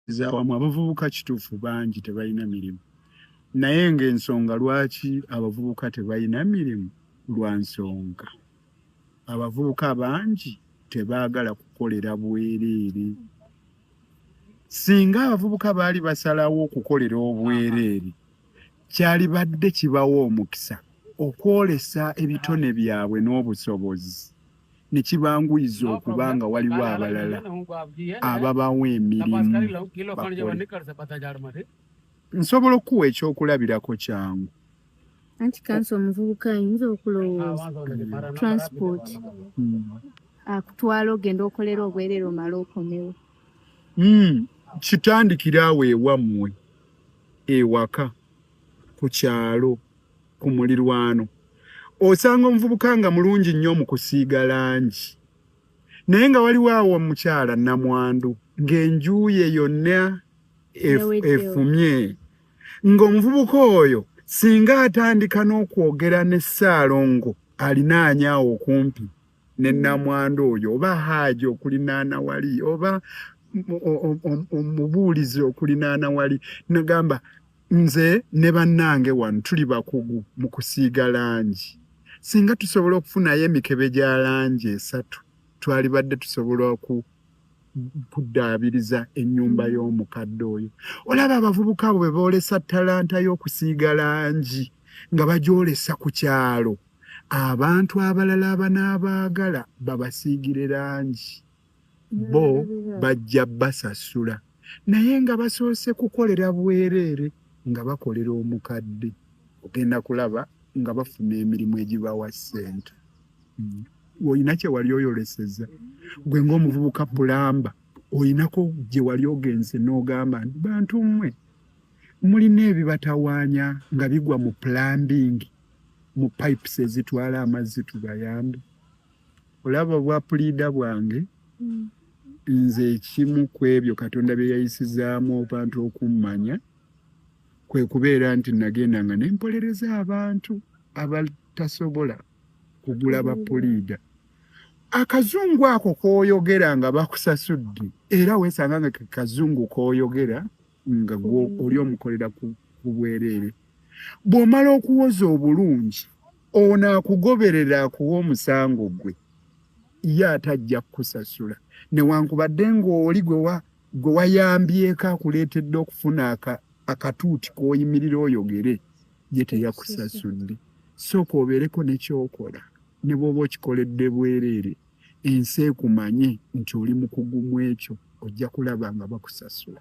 zawamu abavubuka kituufu bangi tebalina mirimu naye ng'ensonga lwaki abavubuka tebalina mirimu lwa nsonga abavubuka bangi tebaagala kukolera bwereere singa abavubuka baali basalawo okukolera obwereere kyalibadde kibawa omukisa okwolesa ebitone byabwe n'obusobozi ne kibanguyiza okuba nga waliwo abalala ababawa emirimu nsobola okukuwa ekyokulabirako kyangu anti kansi omuvubuka ayinza okulowooza transport hmm. akutwala ogenda okolera obwerere omala okomewo hmm. kitandikira awo ewammwe ewaka ku kyalo ku mulirwano osanga omuvubuka nga mulungi nnyo mu kusiiga langi naye nga waliwo awo omukyala namwandu ng'enjuuye yonna efumye ng'omuvubuka oyo singa atandika n'okwogera ne ssaalongo alinaanya awo okumpi ne mm. namwandu oyo oba haaji okulinaana wali oba omubuulizi okulinaana wali nagamba Nze ne bannange wano tuli bakugu mu kusiiga langi. Singa tusobola okufunayo emikebe gya langi esatu twalibadde tusobola oku kuddaabiriza ennyumba mm. y'omukadde oyo. Olaba abavubuka abo bwe boolesa talanta y'okusiiga langi nga bagyolesa ku kyalo, abantu abalala abanaabaagala babasiigire langi. bo bajja basasula naye nga basoose kukolera bwereere nga bakolera omukadde ogenda kulaba nga bafuna emirimu egibawa ssente hmm. olina kyewali oyoleseza gwe ngaomuvubuka pulamba olinako gyewali ogenze n'ogamba nti bantu mmwe mulina ebibatawaanya nga bigwa mu pulambiingi mu pipes ezitwala amazzi tubayambe olaba obwa puliida bwange mm. nze ekimu ku ebyo katonda bye yayisizaamu abantu okummanya kwe kubeera nti nagenda nga ne mpolereza abantu abatasobola kugula mm. bapuliida akazungu ako koyogera nga bakusasudde era wesanga nga kazungu koyogera nga gwo oli omukolera ku bwereere bw'omala okuwoza obulungi ono akugoberera akuwa omusango gwe ye ate ajja kukusasula newankubadde ng'oli gwe wayambyeko akuleetedde okufuna akatuuti k'oyimirira oyogere ye teyakusasudde sooka obeereko nekyokola ne bw'oba okikoledde bwereere ensi ekumanye nti oli mukugu mu ekyo ojja kulaba nga bakusasula